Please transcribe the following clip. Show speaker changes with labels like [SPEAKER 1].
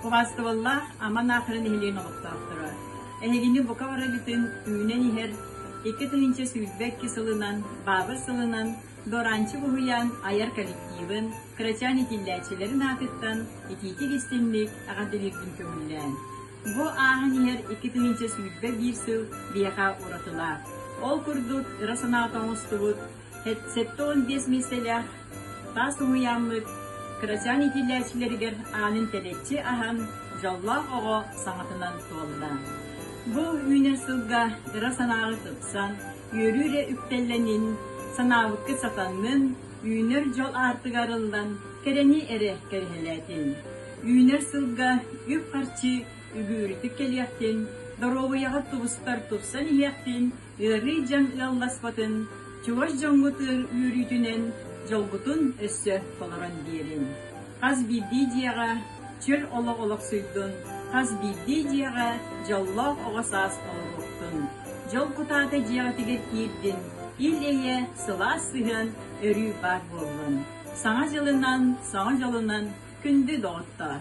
[SPEAKER 1] Кубастыбылла Аман Аахыры нэһилиэгин олохтоохторо. Эһигини бука бара бүтүн түүнэн иһэр икки тыһыынча сүүрбэ икки сылынан, баабыр сылынан Доранчы буһуйаан айар коллективын, кырачаан итиллээччилэрин аатыттан итиитик истинник аҕатилирбин көҥүллээн. Бу ааһын иһэр икки тыһыынча сүүрбэ биир сыл биэха уратылаах. Ол курдук ыра санаата оҥостубут Сэттэ уон биэс миэстэлээх таас уһуйааммыт кырачаан иитиллээччилэригэр аанын тэлэччи аһан, дьоллоох оҕо саҥатынан туолла. Бу үүнэр сылга ыра санааҕа тупсан, үөрүү эрэ үктэллэнин, санаабыккыт сатаҥҥын, үүнэр дьол аартыга арыллан, кэрэни эрэ кэрэһэлээтин. Үүнэр сылга үп-харчы үгүүрүтүк кэлиэхтин, доруобуйаҕыт тубустар тупсан иһиэхтин, ыарыы дьаҥ ыалласпатын, чугас дьоҥҥутугар үөрүүтүнэн дьолгутун өссө толорон биэриҥ! Хас биирдии дьиэҕэ чөл олох олохсуйдун, хас биирдии дьиэҕэ дьоллоох оҕо саас олоруохтун! Дьол кутаата дьиэҕитигэр киирдин, ил-эйэ, сылаас сыһыан, өрүү баар буоллун! Саҥа дьылынан, саҥа дьолунан күндү доҕоттоор!